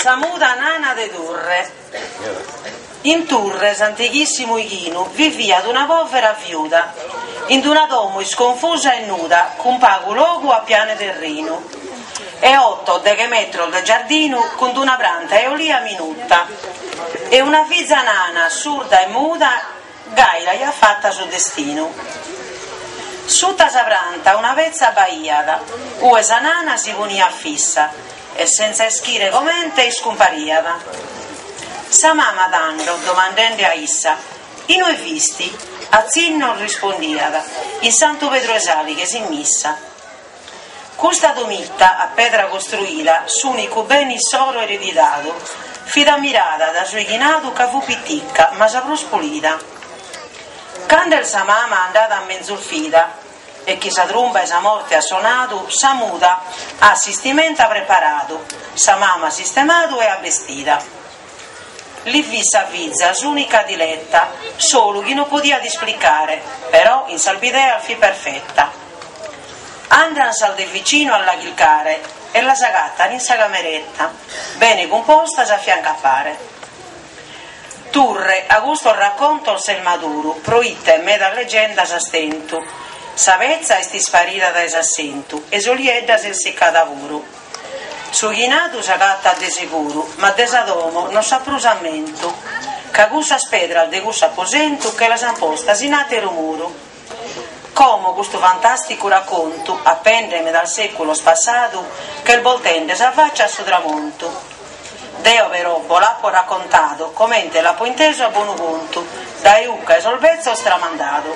Sa muda nana de Turre. In Turre, s'antighissimu ighinu, viviat una povera viuda, in d'una domo isconfusa e nuda, cun pagu logu a pianu 'e terrinu, e otto o deghe metros de giardinu, cun d'una pranta 'e olia minuta, e una fiza nana, surda e muda, Gai l'aiat fata su destinu. Suta sa pranta una petza b'aiat, ue sa nana si poniat fissa e sentza ischire comente iscumpariat. Sa mama tando, domandende a issa, Inue fisti? a tzinnos rispondiat, In Santu Pedru 'e Salighes in missa. Custa domitta a pedra costruida, s'unicu bene issoro eredidadu, fit ammirada da su 'ighinadu ca fut piticca ma sa prus pulida. Cando est sa mama andada a menzus vida e chi sa trumba 'e sa morte at sonadu, sa muda at s'istimenta preparadu, sa mama at sistemadu e at bestida. Li fit sa fiza s'ùnica diletta, solu chi no podiat isplicare, però in sas bideas fit perfetta. Andant sas de vicinu a la chilcare e las agatan in sa cameretta, bene cumpostas a fiancu a pare. Turre a custos raccontos ses maduru, proite medas legendas as tentu, sa petza est isparida dae s'assentu e s'oliedda s'est siccada puru. Su chinadu s'agatat de seguru, ma de sa domo no s'at prus ammentu, ca cussas pedras de cussu aposentu che las an postas in àteru muru. Como custu fantàsticu racontu apende medas sèculos passadu ch'est boltende sa fàcia a su tramontu. Deo però bo l'apo racontadu comente l'apo intesu a bonu contu, dae ucca 'e sos betzos tramandadu.